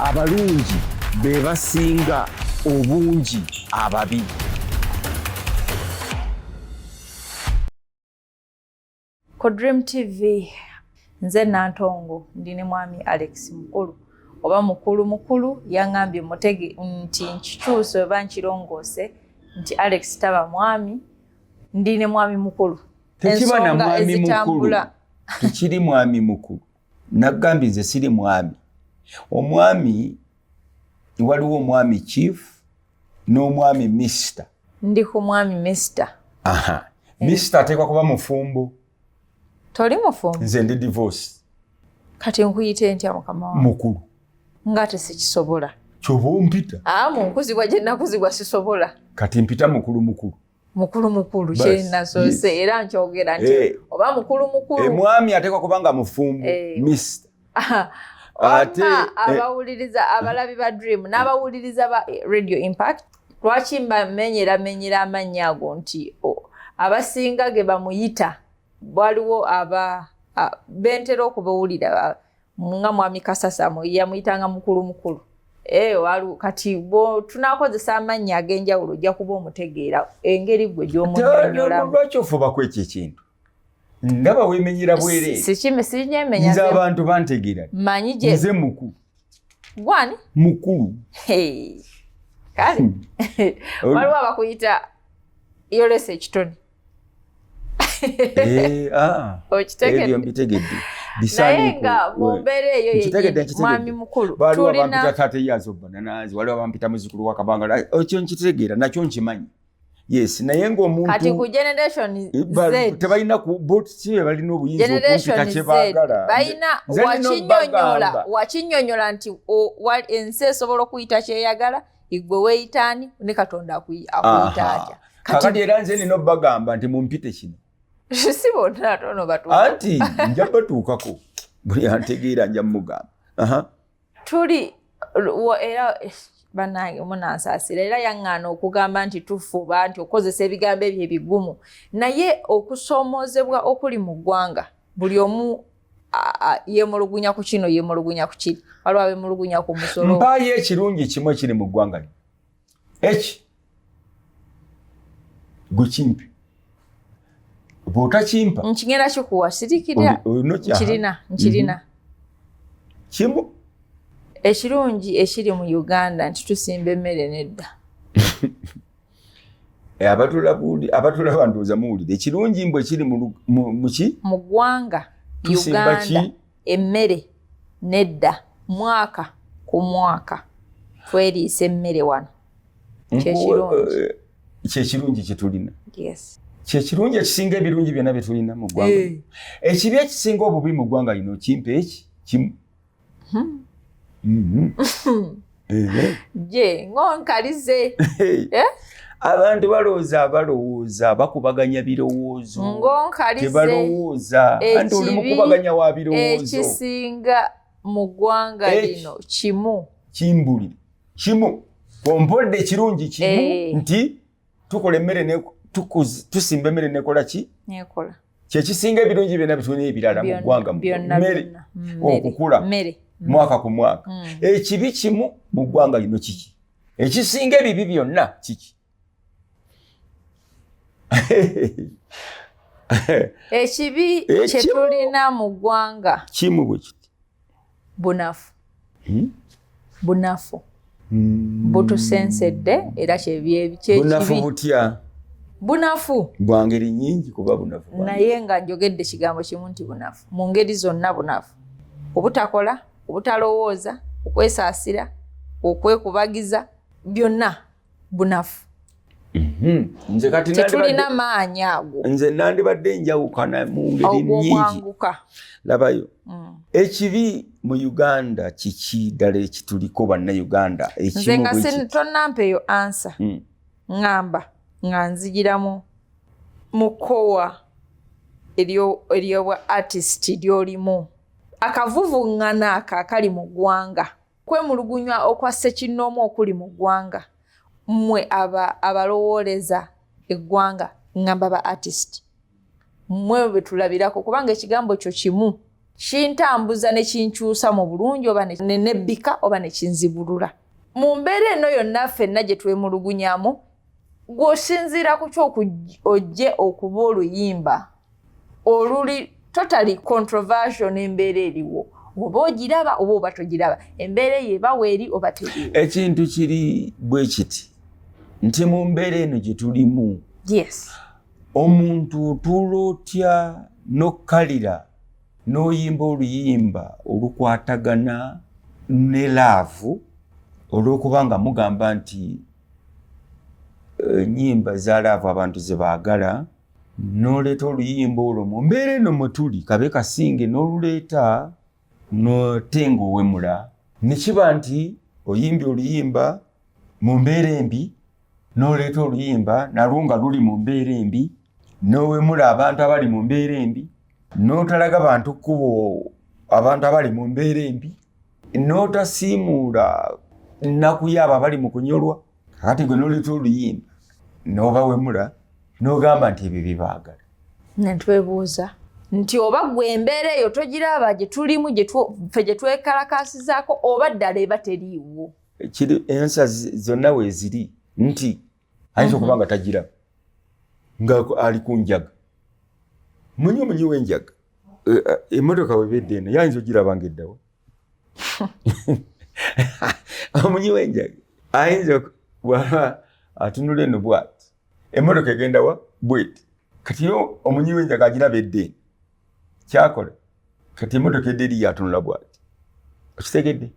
abalungi be basinga obungi ababi ku dream tv nze nantongo ndi ne mwami alex mukulu oba mukulu mukulu yaŋambye mutege nti nkikyusa oba nkirongoose nti alex taba mwami ndi ne mwami mukulu tekiba na mwami mukulu tekiri mwami mukulu nagambye nze siri mwami omwami waliwo omwami chief n'omwami mister ndi ku mwami mister aha eh. mister ateekwa kuba mufumbo toli mufumbo nze ndi divorce kati nkuyite ntya mukama wa mukulu nga tesikisobola kyoba ompita a ah, munkuzibwa gye nakuzibwa sisobola kati mpita mukulu mukulu mukulu mukulu kyenasoose yes. era nkyogera nti hey. Eh. oba mukulu mukulu emwami eh, atekwa kubanga mufumbo hey. Eh. mist ate abawuliriza eh. abalabi ba dream n'abawuliriza ba radio impact lwaki mbamenyera menyera amannya ago nti abasinga ge bamuyita waliwo aba bentera okubawulira nga mwami kasasamo yamuyitanga mukulu mukulu eh, walu kati bo tunakozesa amannya ag'enjawulo ojja kuba omutegeera engeri gwe gy'omunyonyolamulwakyofubaku ekyo ekintu nga bawemenyera bwereesinze abantu bantegeera nze mukulu gwani mukulu kale hmm. waliwo abakuyita yolesa ekitone Eh, ah, ebyo mbitegedde naye nga mu mbeera eyo yeyemwami mukulu waliwo abampita taata eyazo bananazi waliwo abampita muzukulu wakabanga ekyo nkitegeera nakyo nkimanyi yes naye ngaomuntukati ku generation eh, tebalina botkibe balina obuyinzaokumpita kyebagala balina wakinyonyola wakinyonyola nti ensi esobola okuyita kyeyagala igwe weyitani ne katonda akuyita atya kakati era nze nina obagamba nti mumpite kino si bonna ate ono batuuka anti nja batuukako buli antegeera nja mugamba tuli era banange munansaasira era yaŋŋaana okugamba nti tufuba nti okukozesa ebigambo ebyo ebigumu naye okusoomoozebwa okuli mu ggwanga buli omu yemulugunya ku kino yemulugunya ku kiri waliwo abemulugunya ku musolo mpaayo ekirungi kimu ekiri mu ggwanga li eki gwe kimpi bwotakimpa nkigenda kikuwa sirikira nkirina nkirina mhm. kimu ekirungi ekiri mu uganda nti tusimba emmere nedda eh, abatulaba ndowooza muwulire ekirungi mbwe kiri muki mu ggwanga uganda emmere nedda mwaka ku mwaka tweriisa emmere wano kyekirungi eh, kyetulina kyekirungi ekisinga ebirungi byonna byetulina mu ggwanga eh. ekibi ekisinga obubi mu ggwanga lino kimpa eki kimu Hmm. Mm-hmm. Eh. Je, ngonkalize. Eh? Abantu balowooza balowooza bakubaganya birowoozo. Ngonkalize. Tebalowooza. Anti oli mukubaganya wa birowoozo. Ekisinga mu ggwanga lino kimu. Kimbuli. Kimu. Kompodde kirungi kimu eh. nti tukola emmere ne tukuzi tusimba emmere nekola ki nekola kyekisinga ebirungi byonna bitulina ebirala mu ggwanga mmere okukula mm. mwaka ku mwaka mm. ekibi kimu mu ggwanga lino kiki ekisinga ebibi byonna kiki ekibi kyetulina mu ggwanga kimu bwe kiti bunafu hmm? bunafu hmm. butusensedde era kyebyebunafu butya bunafu bwa ngeri nyingi kuba bunafu naye nga njogedde kigambo kimu nti bunafu mu ngeri zonna bunafu obutakola obutalowooza okwesaasira okwekubagiza byonna bunafu mhm. nze kati tetulina maanyi ago nze nandibadde njawukana mu ngeri nyingi labayo mm. ekibi mu uganda kiki ddala ekituliko bannauganda nze nga tonampa eyo ansa mm. ŋŋamba nga nzigiramu mu kkowa eryobwa artist lyolimu akavuvuŋŋana ako akali mu ggwanga Kwemulugunywa okwa ssekinnoomu okuli mu ggwanga mmwe abalowooleza eggwanga ngamba ba artist mmwe betulabirako kubanga ekigambo kyo kimu kintambuza ne kinkyusa mu bulungi oba nenebbika oba ne kinzibulula mu mbeera eno yonna ffenna gye twemulugunyamu gw'osinziira ku kyokujje okuba oluyimba oluli totally controversial n'embeera eriwo oba ogiraba oba oba togiraba embeera eyo ebawo eri oba teriwo ekintu kiri bwe kiti nti mu mbeera eno gye tulimu yes omuntu otuula otya n'okkalira n'oyimba oluyimba olukwatagana ne laavu olw'okuba nga mugamba nti eh, nyimba za laavu abantu ze baagala noleeta oluyimba olwo mu mbeera eno mwetuli kabe kasinge noluleeta notenga owemula nekiba nti oyimbi oluyimba mu mbeera embi noleeta oluyimba nalwo nga luli mu mbeera embi nowemula abantu abali mu mbeera embi notalaga bantu kkubo abantu abali mu mbeera embi n'otasiimuula nnaku yaabo abali mu kunyolwa kati gwe noleta oluyimba n'obawemula n'ogamba nti ebyo byebaagala netwebuuza nti oba gwe embeera eyo togiraba gye tulimu fe gye twekalakaasizaako oba ddala eba teriiwo kiri ensa zonna weeziri nti ayinza okuba nga tagiraba nga ali ku njaga munyi omunyi w'enjaga eh, eh, emmotoka webedde eno yayinza ogiraba nga eddawo omunyi w'enjaga ayinza bwaba atunula eno bwati emmotoka egendawa bweti kati yo omunyi w'enjaga agiraba edde eno kyakola kati emotoka edde eri yatunula bwati okitegedde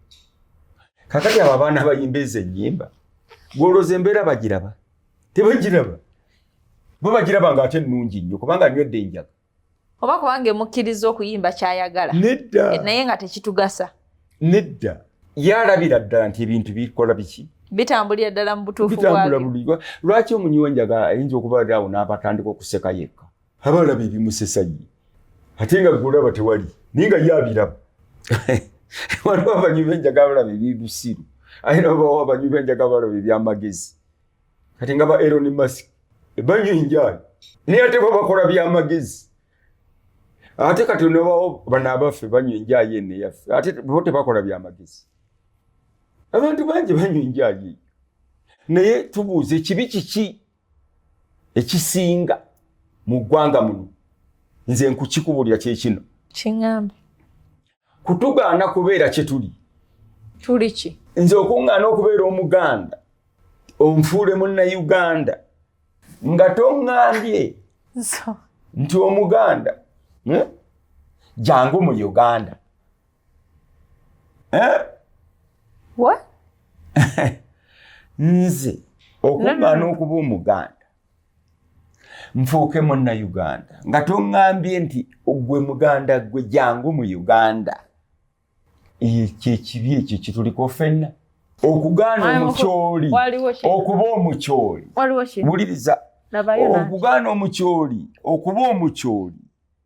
kakati abo abaana bayimba ezo enyimba gwoloza embeera bagiraba tebagiraba bo bagiraba nga ate nungi nnyo kubanga nywedde enjaga oba kubanga emukkiriza okuyimba kyayagala nedda eh, naye nga tekitugasa nedda yalabira ddala nti ebintu bikola biki bitambulira ddala mu butuufu bitambula bulirwa lwaki omunyiwa enjaga ayinza okuba awo n'abatandika okuseka yekka aba alaba ebimusesa ye ate nga gweolaba tewali naye nga ye abiraba waliwo abanywi benjaga balaba ebibusiru aye nabawo abanywi benjaga balaba ebyamagezi kati nga ba eron mask ebanywa enjaali naye ate bo bakola byamagezi ate kati onabawo bana abaffe banywa enjayi eno eyaffe ate bo tebakola byamagezi abantu bangi banywa enjayi eyo naye tubuuza ekibi kiki ekisinga mu ggwanga muno nze nkukikubulira kyekino kiŋambe kutugaana kubeera kyetuli tuli ki nze okuŋŋaana okubeera omuganda onfuule munnayuganda nga toŋŋambye nti omuganda hmm? jangu mu uganda eh? What? nze okugaana okuba omuganda nfuuke munna uganda nga toŋambye nti ogwe muganda gwe jangu mu uganda kyekibi ekyo kituliko fenna okugaana omukyoli okuba omukyoli wuliriza okugaana omukyoli okuba omukyoli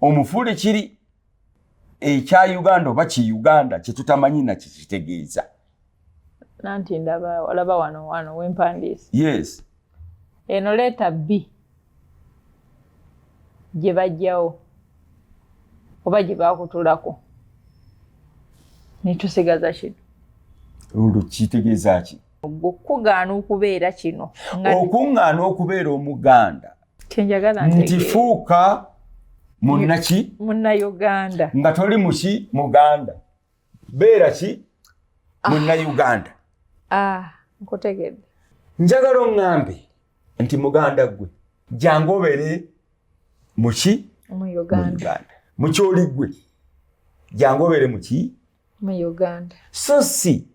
omufuule kiri ekya uganda oba ki uganda kyetutamanyi nakyo kitegeeza nanti ndaba olaba wano wano wempandiisi yes eno leeta bbi gye bajjawo oba gye bakutulako netusigaza kino olwo kitegeeza ki okukugaana okubeera kino okuŋŋaana okubeera omuganda kyenjagala nti fuuka munnaki munnauganda nga toli muki muganda beera ki ah. munnauganda ah, nkutegedde njagala oŋŋambe nti muganda gwe jangu obeere muki muuganda mukyoli gwe jangu obeere muki muuganda so si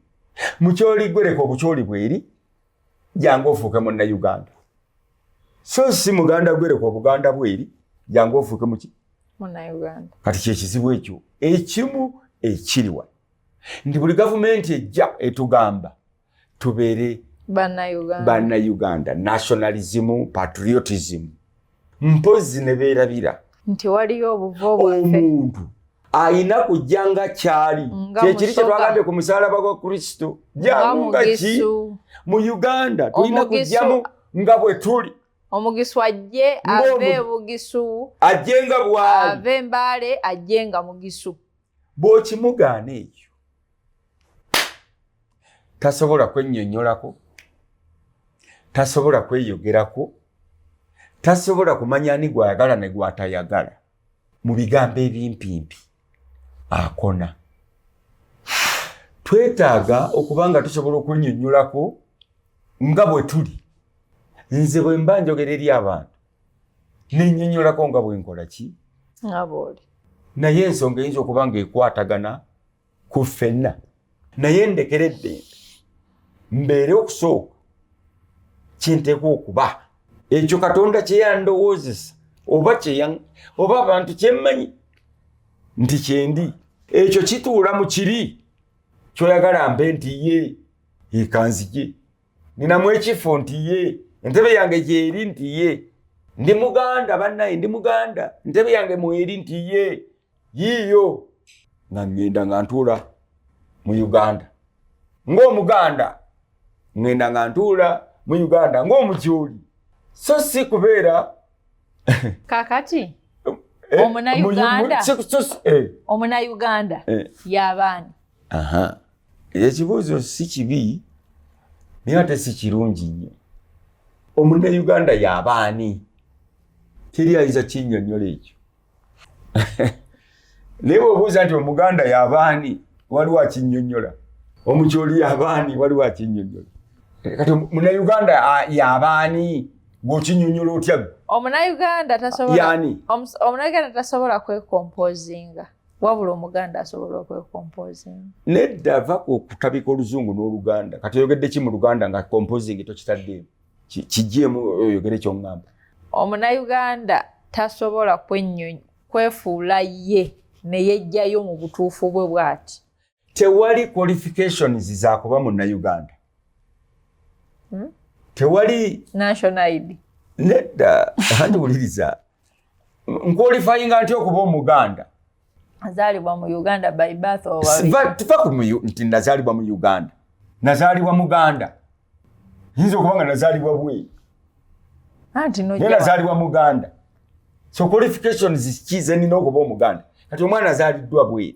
mukyoli gwe leka obukyoli bweri jangu ofuuke munna uganda so si muganda gwereka obuganda bweri jangu ofuuke muki kati kyekizibu ekyo ekimu ekiriwa nti buli gavumenti ejja etugamba tubeere banna uganda nationalism patriotism mpozzi ne beerabira nti waliyo obuvo bwaffe omuntu ayina kujja nga kyali kyekiri kyetwagambye ku musalaba gwa kristo janunga ki mu uganda tulina kujjamu nga bwe tuli omugisu ajje ave bugisu ajje nga bwali ave mbale ajje nga mugisu bw'okimugaana ekyo tasobola kwennyonnyolako tasobola kweyogerako tasobola kumanya ani gw'ayagala ne gw'atayagala mu bigambo ebimpimpi akona twetaaga okuba nga tusobola okunnyonnyolako nga bwe tuli nze bwe mba njogera eri abantu nenyinyolako nga bwenkola ki ngabooli naye ensonga eyinza okuba nga ekwatagana ku ffenna naye ndekera eddembe mbeere okusooka kyenteekwa okuba ekyo katonda kyeyandowoozesa oba oba abantu kyemmanyi nti kyendi ekyo kituula mu kiri kyoyagala mbe nti ye ekanzigye ninamu ekifo nti ye entebe yange gyeri nti ye ndi muganda bannaye ndi muganda entebe yange mweri nti ye yiiyo nga ngenda nga ntuula mu uganda ng'omuganda ngenda nga ntuula mu uganda ng'omujooli so si kubeera kakati eh, omunauganda eh, eh. omunauganda yabaani aha ekibuuzo si kibi naye ate si kirungi nnyo omunna uganda yabaani teri ayinza kinyonyola ekyo naye bwebuuza nti omuganda yabaani waliwo akinyonyola omukyoli yabaani waliwo akinyonyola kati munauganda yabaani gwokinyonyola otya omunauganda tasobola kwekompozinga wabula omuganda asobola okwekompozinga nedda va okutabika oluzungu n'oluganda kati oyogedde ki mu luganda nga kompozingi tokitaddeemu kigyemu oyogere kyoŋŋamba omunayuganda tasobola kwennyonyi kwefuula ye ne yejjayo mu butuufu bwe bw'ati tewali qualifications za kuba mu Uganda hmm? tewali national ID nedda handi wuliriza nkwalifying nti okuba omuganda azalibwa mu Uganda by birth or tufa ku nti nazalibwa mu Uganda nazalibwa muganda yinza okuba nga nazalibwa bwe anti no nazalibwa muganda so qualifications kize nina okuba omuganda kati omwana azaliddwa bwe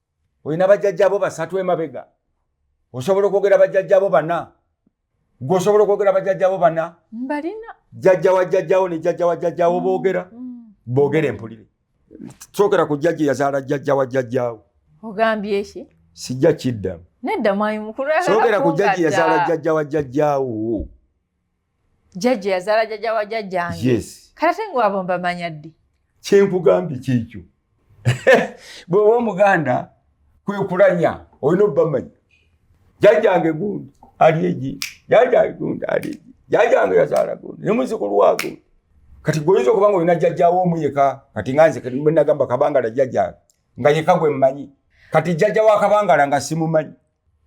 olina bajjajjabo basatu emabega osobola okwogera bajjajjabo bana gwe osobola okwogera bajjajjabo bana mbalina jjajja wa jjajjawo ne jjajja wa jjajjawo mm, boogera mm. boogera empulire sookera ku jjajja yazaala jjajja wa jjajjawo ogambye ki sijja kiddamu nedda mwayi mukulu sookera ku jjajja yazaala jjajja wa jjajjawo jajja yazaala jajja wa jajjange yes. kati ate ngaabo mbamanya ddi kyenkugambye kyekyo bweoba omuganda kwekulanya olina obubamanya jajjange gundi ali egi jajjange gundi ali egi jajjange yazaala gundi ne muzukulu wa gundi kati gweoyinza okuba nga olina jajjawo omu yeka kati nga nze nagamba kabangala jajjange nga yeka gwe mmanyi kati jajja wa kabangala nga simumanyi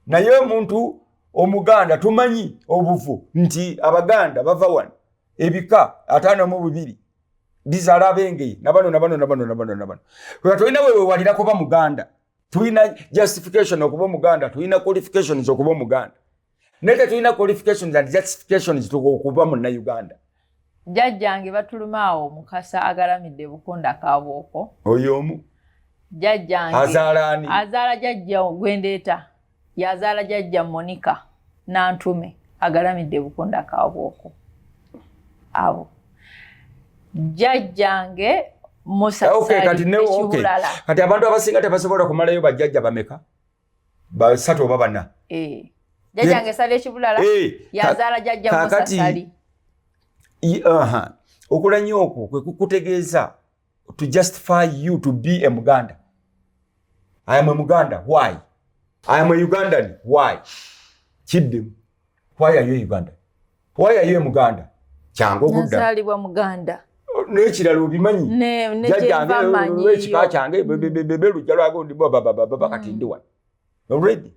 naye omuntu omuganda tumanyi obuvu nti abaganda bava wano ebika ataano mu bubiri bizala abengeye nabano nabano nabano nabano nabano oyo tolina wewewalira kuba muganda tulina justification okuba omuganda tulina qualifications okuba omuganda naye tetulina qualifications and justifications okuba munnauganda jjajjange batuluma awo mukasa agalamidde bukunda kabooko oyo omu jjajjange azaala ani azaala jajja gwendeeta yazaala jajja monica nantume agalamidde bukunda kabooko abo jjajjange musasali okay, kati, okay. kati abantu abasinga tebasobola kumalayo bajjajja bameka basatu oba bana eh. jajange sala ekibulala eh. yazala jajja musasali okulanya okwo kwe kukutegeeza to justify you to be a muganda i am a muganda why i am a ugandan why kiddemu Why are you in Uganda? Why are you in Muganda? Kyangu okudda. Nazaalibwa Muganda. N'ekirala obimanyi. Ne, ne gyenva manyi. Ekika kyange, bebebebebe, lujja lwago ndi bwa baba baba baba kati ndi wano. Already.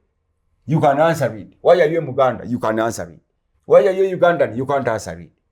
You can answer it. Why are you in Muganda? You can answer it. Why are you in Ugandan? You can't answer it.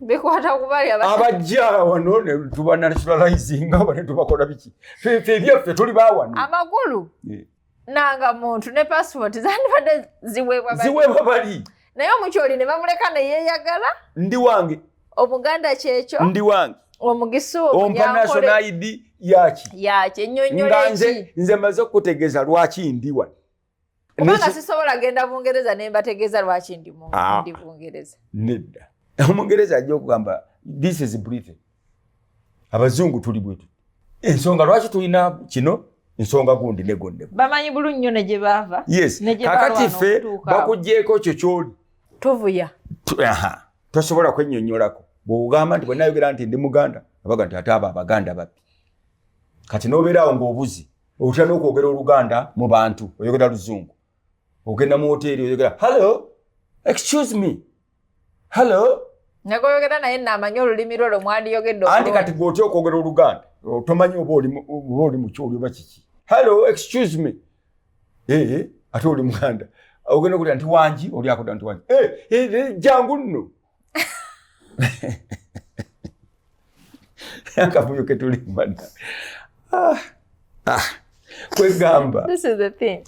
bikwata kubali abajja wano netuba nationalizinga aba netubakola biki fe ebyaffe tuli bawano amakulu nanga muntu ne passport zandibadde ziweebwa ziweebwa bali naye omukyoli ne bamuleka neyeyagala ndi wange omuganda kyekyo ndi wange omugisa ompa national id yaki yaki enyonyole ki nze maze okutegeza lwaki ndi wano kubanga sisobola genda bungereza ne mbategeeza lwaki ndi ah. bungereza nedda omungereza ajja okugamba this is britain abazungu tuli bwetu ensonga lwaki tulina kino nsonga gundi negonne bamanyi bulu nnyo ne gye baava yes kakati ffe bakugyeko kyo kyoli tuvuya tosobola kwennyonnyolako bwogamba nti bwenayogera nti ndi muganda abaga nti ate abo abaganda babbi kati nobeeraawo ngaobuzi otya n'okwogera oluganda mu bantu oyogera luzungu ogenda mu woteeri oyogera hallo excuse me hallo nagoyogera naye naamanya olulimi lwo lwe mwandiyogedde anti kati gwe otya okwogera oluganda tomanyi oba oli mu kyoli oba kiki hallo excuse me ee ate oli muganda ogenda okulira nti wangi oli akoda nti wangi eh, eh, eh, jangu nno akavuyo ketulimbana ah, ah. kwegamba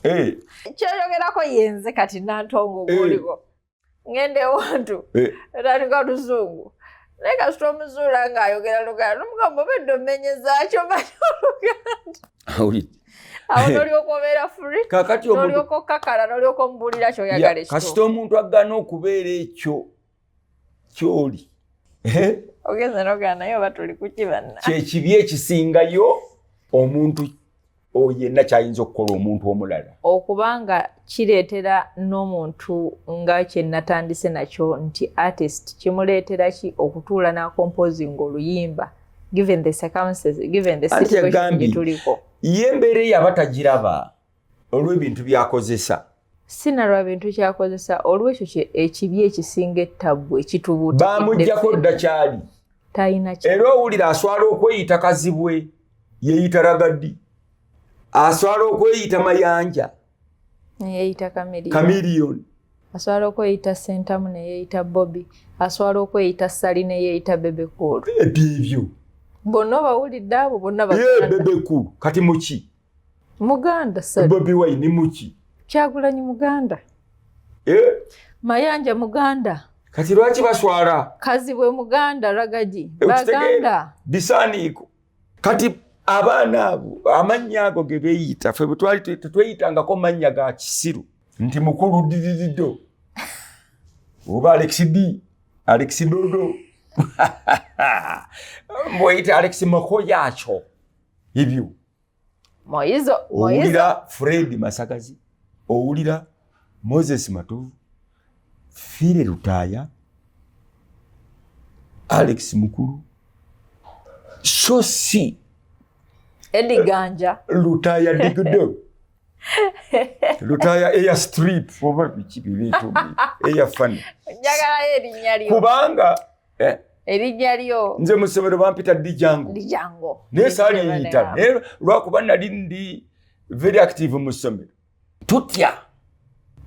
eh. kyoyogerako yenze kati nantongo eh. guliko ngende ewantu eh. tandika oluzungu naye kasita omuzuula ng'ayogera luganda nomugamba obedde omenyezakyo manyi oluganda awulidde awo nolyoka obeera free kakati nolyoka okakala nolyoka omubuulira kyoyagala ekyo kasita omuntu agana okubeera ekyo kyoli ogenza nogana naye oba tuli kuki banna kyekibi ekisingayo omuntu yenna kyayinza okukola omuntu omulala okubanga kireetera n'omuntu nga kyenatandise nakyo nti artist kimuleetera ki okutuula n'akompozinga oluyimba given the circumstances given the situation gituliko ye mbeera eyo aba tagiraba olw'ebintu byakozesa si na lwa bintu kyakozesa olw'ekyo ekibi ekisinga ettabbu ekitubuuta baamugyako dda kyali talina era owulira aswala okweyita kazibwe yeyita ragaddi aswala okweyita mayanja neyeyita kamilion asobola okweyita sentamu neyeyita bobi asobola okweyita sali neyeyita bebekulu ebyo ebyo bonna obawulidde abo bonna bebekulu kati muki muganda bobi wine muki kyagulanyi muganda eh? mayanja muganda kati lwaki baswala kazibwe muganda ragagi eh, baganda bisaaniiko kati abaana abo amannya ago ge beeyita fe bwetwali tetweyitangako mannya ga kisiru nti mukulu didirido oba alex d alex dodo mbweyita alex makoyaakyo ebyo Moyizo, Moyizo. Owulira Fred Masakazi, owulira Moses Matovu, Fire Lutaya, Alex Mukulu, so si Eddie Ganja, Lutaya Digdo. Lutaya eya strip oba biki bibitu eya funny. Njagala erinya lyo. Kubanga eh? erijja lyo nze mu ssomero bampita dijango dijango naye saaliyita naye lwakuba nali ndi very active mu ssomero tutya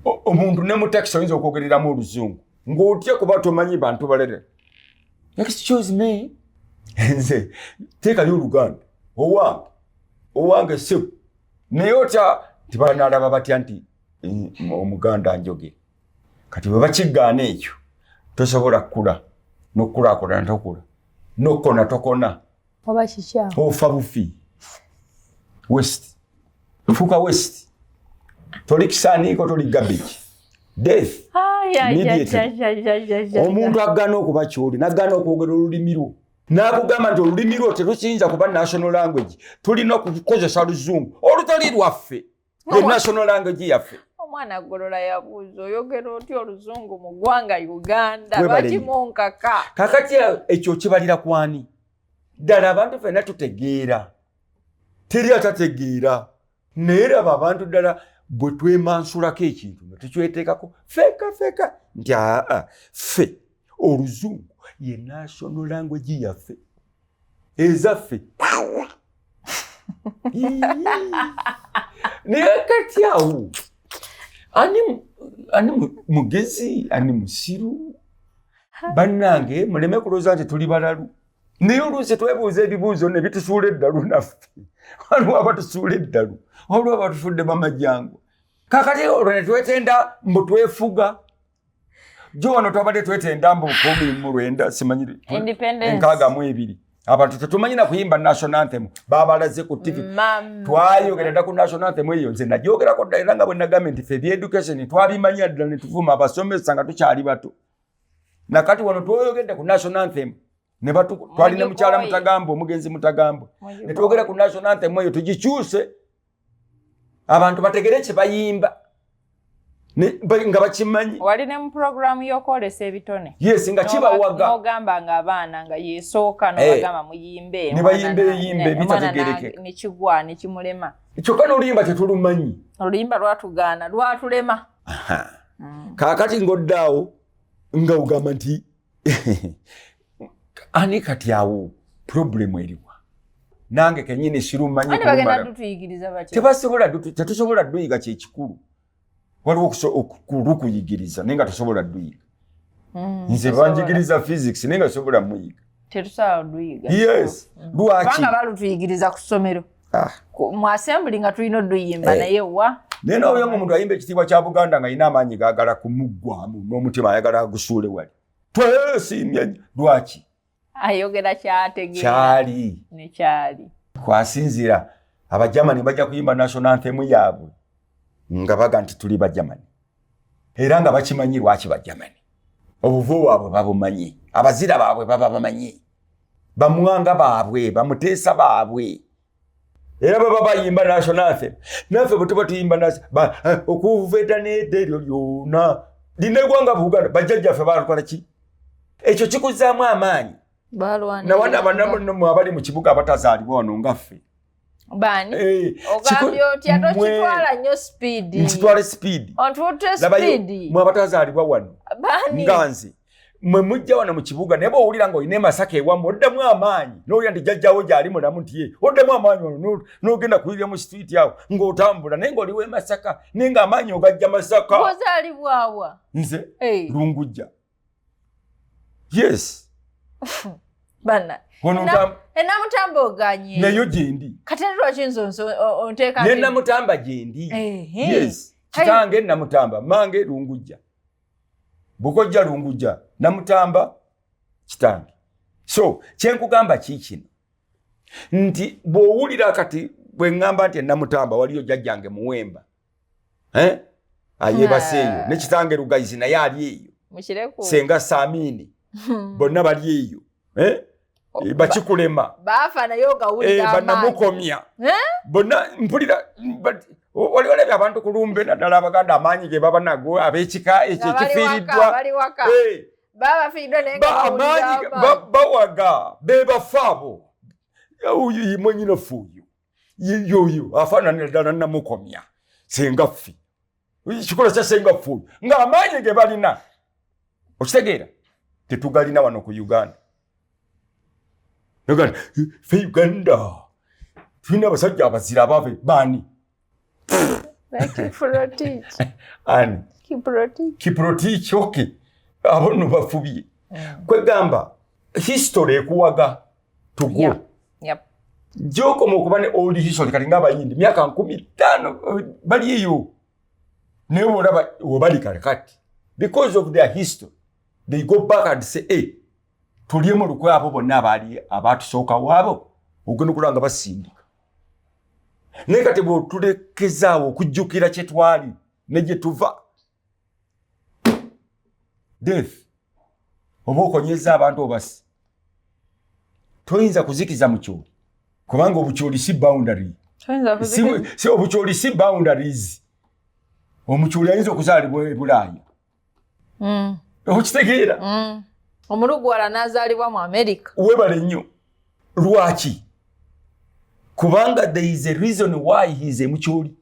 omuntu ne mu takisi oyinza okwogereramu oluzungu ng'otya kuba tomanyi bantu balere excuse me nze teekayo oluganda owange owange sebo naye otya nti banaalaba batya nti omuganda njoge kati bwe bakiggaana ekyo tosobola kukula n'okukulaakulana tokula n'okukona tokona oba kikyamu ofa bufi west fuka west toli kisaaniiko toli gabiki death omuntu agana okuba kyoli nagana okwogera olulimi lwo nakugamba nti olulimi lwo terukiyinza kuba national language tulina okukozesa luzungu olutali lwaffe ye national language yaffe omwana agolola yabuuza oyogera otya oluzungu mu ggwanga uganda lwaki munkaka kakati ekyo kibalira kwani ddala abantu fena tutegeera teri atategeera naye laba abantu ddala bwe twemansulako ekintu nga tukyeteekako feka feka nti aa ffe oluzungu ye national language yaffe ezaffe naye kati awo ani mugezi ani musiru bannange muleme kulooza nti tuli balalu naye oluusi twebuuza ebibuuzo ne bitusuula eddalu naffe waliwo abatusuula eddalu waliwo abatufudde bamajangu kakati olwo ne twetenda mbu twefuga jo wano twabadde twetenda mbu kumi mu lwenda simanyi enkaaga mu ebiri abantu tetumanyi na kuyimba national anthem babalaze ku tv twayogera dda ku national anthem eyo nze nagyogerako dda era nga bwe nagambye nti fe byeducation twabimanya ddala netuvuma abasomesa nga tukyali bato nakati wano twoyogedde ku national anthem twalina mukyala mutagambo omugenzi mutagambo netwogera ku national anthem eyo tugikyuse abantu bategere kye bayimba nga bakimanyi wali ne mu puroguramu y'okwolesa ebitone yes nga kibawaga nogamba nga abaana nga yesooka eh. nobagamba muyimbe ne bayimba eyimba ebitategereke nekigwa nekimulema kyokka n'oluyimba tetulumanyi oluyimba lwatugaana lwatulema mm. kaakati ng'oddaawo nga ogamba nti ani kati awo problemu eriwa nange kenyini sirumanyibasobola tetusobola duyiga kyekikulu waliwo okulukuyigiriza naye nga tosobola duyiga hmm, nze banjigiriza physics naye nga tosobola muyiga yes hmm. lwaki balutuyigiriza ku ssomero ah. mu assembly nga tulina oduyimba eh. naye wa naye noyo mu muntu ayimba ekitiibwa kya buganda nga yina amaanyi gagala kumuggwamu n'omutima ayagala agusuule wali twesiimye lwaki ayogera kyategeera kyali nekyali kwasinzira abajamani bajja kuyimba national anthem yaabwe nga baga nti tuli bajamani era nga bakimanyi lwaki bajamani obuvu bwabwe babumanyi abazira baabwe baba bamanyi bamwanga baabwe bamuteesa baabwe era baba bayimba national anthem naffe bwetuba tuyimba nasi eh, okuveta neda eryo lyona lina egwanga buganda bajjajjaffe baalukola ki ekyo kikuzaamu amaanyi nawana abanamu abali mu kibuga abatazaalibwa wano ngaffe eh, ntitwale sipiidimwe abatazaalibwa wano nga nze mwe mujja wano mu kibuga naye bwowulira nga olina emasaka ewamu oddamu amaanyi nowulira nti jajjawo gyali mulamu nti ye oddamu amaanyi ono nogenda kuyirira mu situiti awo ng'otambula naye ngaoliwo emasaka naye nga amaanyi ogajja masaka ozalibwawa nze lungujja yes bana enamutamba oganye nayo gyendi kati lwaki nze onteeka nenamutamba gyendi yes kitange namutamba mange lungujja bukojja lunguja namutamba kitange so kyenkugamba kiikino nti bwowulira kati bweŋŋamba nti enamutamba waliyo jajjange muwemba eh? ayebaseeyo nekitange lugayizi naye ali eyo senga samini bonna bali eyo eh? Eh, bakikulema banamukomya eh, eh? bona mpulira oli olabye abantu ku lumbe naddala abaganda amaanyi ge baba nago ab'ekika ekyo ekifiiriddwa bawaga bebafa abo mwenyina fuuyo yoyo afaananira ddala namukomya sengaffe kikola kya sengaffe oyo ng'amaanyi ge balina okitegeera tetugalina wano ku uganda nogana fe uganda tulina abasajja abazira abave baani ani kiprotich oke abo no bafubye mm. kwegamba history ekuwaga to go yeah. yep. gyokoma okuba ne old history kati nga abayindi myaka nkumi ttaano eh, bali eyo naye olaba webali kale kati because of their history they go back and say hey, eh, tulyemu lukwe abo bonna abaali abaatusooka waabo ogenda okulaba nga basindika naye kati bwetulekezaawo okujjukira kyetwali negyetuva death oba okonyeza abantu obasi toyinza kuzikiza mukyoli kubanga obukyoli si boundary obukyoli si boundaries omukyoli ayinza okuzaalibwa ebulaaya hmm. okitegeera hmm. omulugwala nazaalibwa mu amerika webale nnyo lwaki kubanga there is a reason why he is emukyoli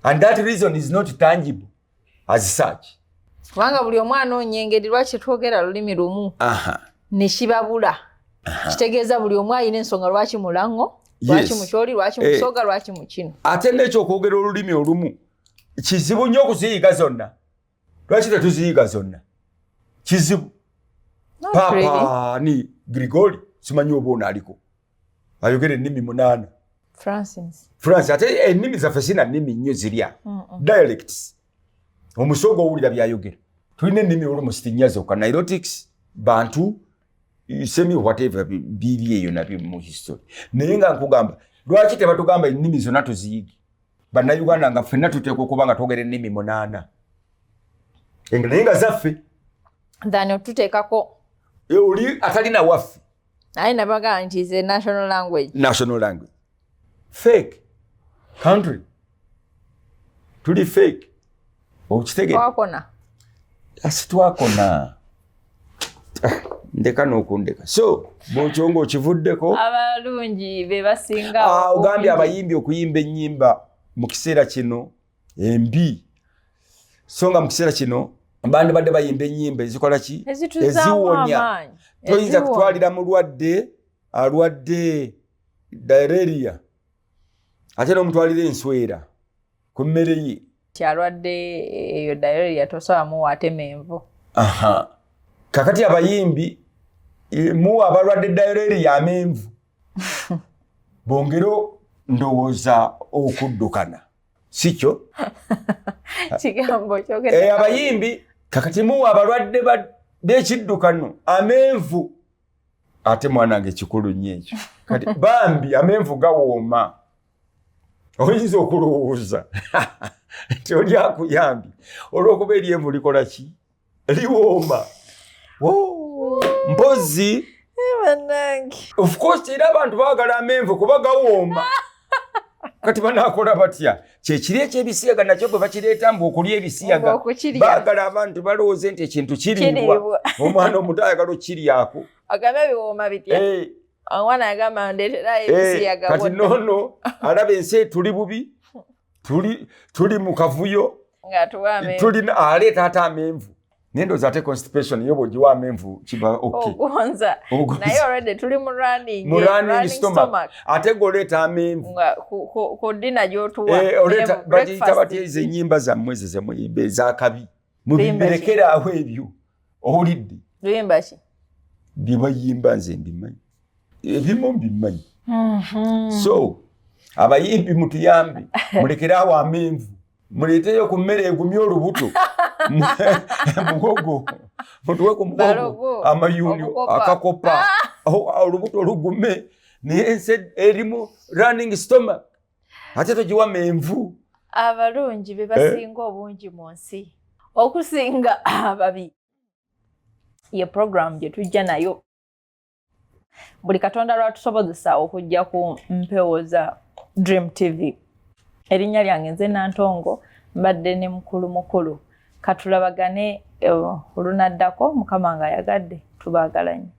and that reason is not tangible as such kubanga buli omu anoonya engeri lwaki twogera lulimi lumu ne kibabula kitegeeza buli omu alina ensonga lwaki mulaŋo lwaki mukyoli lwaki eh. musoga lwaki mukino ate nekyo okwogera olulimi olumu kizibu nnyo okuziyiga zonna lwaki tetuziyiga zonna kizibu papa ni grigori simanyi oba ono aliko ayogera ennimi munaana france ate ennimi zaffe sina nnimi nnyo zirya dialects omusooga owulira byayogera tulina ennimi olumusiti nnya zokka nirotics bantu semi whatever biri eyo nabyo mu history naye nga nkugamba lwaki tebatugamba ennimi zonna tuziyigi bannayuganda nga ffenna tuteekwa okuba nga twogera ennimi munaana naye nga zaffe thano tuteekako e, oli atalina waffe naye nabagaa nti is a national language national language fake country tuli fake okitegera twakona asi twakona ndeka nokundeka so bwokyo nga okivuddeko abalungi bebasinga ah, ogambye abayimbi okuyimba enyimba mu kiseera kino embi so nga mu kiseera kino bantu badde bayimba enyimba ezikola ki eziwonya toyinza kutwalira mulwadde alwadde direria ate nomutwalira enswera ku mmere ye kyalwadde eyo dayori yatosawamuwa ate menvu kakati abayimbi e, muwa abalwadde dayori ya menvu bongere ndowooza okuddukana sikyo e, abayimbi kakati muwa abalwadde bekiddukano amenvu ate mwanange kikulu nyo ekyo kati bambi amenvu gawooma oyinza okulowooza nti oli akuyambye olwokuba eryemu likola ki liwooma mpozi ofcourse era abantu bagala amenvu kuba gawooma kati banakola batya kyekiri ekyebisiyaga nakyo bwe bakireeta mbu okulya ebisiyaga bagala abantu balowooze nti ekintu kiriibwa omwana omuto ayagala okukiryaku eh, kati nono alaba ensi etuli bubi tuli mu kavuyo tulina aleeta ate amenvu nendoza ate constipation yo bwogiwa amenvu kiba okgonza oh, naye already tuli mu running mu running stomach ate goleeta amenvu ku dina gyotuwa eh, oleeta bagiyita batya ezo ennyimba zammwe ezo zemuyimba ezakabi mubirekeraawo ebyo owulidde luyimba ki byebayimba nze mbimanyi ebimu mbimanyi mhm. so abayimbi mutuyambe mulekeraawo amenvu muleeteyo ku mmere egumye olubuto mugogo mutuwe ku mugogo amayuuni akakopa ah! olubuto lugume naye erimu running stomach ate togiwa menvu abalungi be basinga eh? obungi mu nsi okusinga ababi ye programu gye tujja nayo buli katonda lwatusobozesa okujja ku mpewo za dream tv erinnya lyange nze nantongo mbadde ne mukulu mukulu katulabagane eh, olunaddako mukama nga ayagadde tubaagala nnyo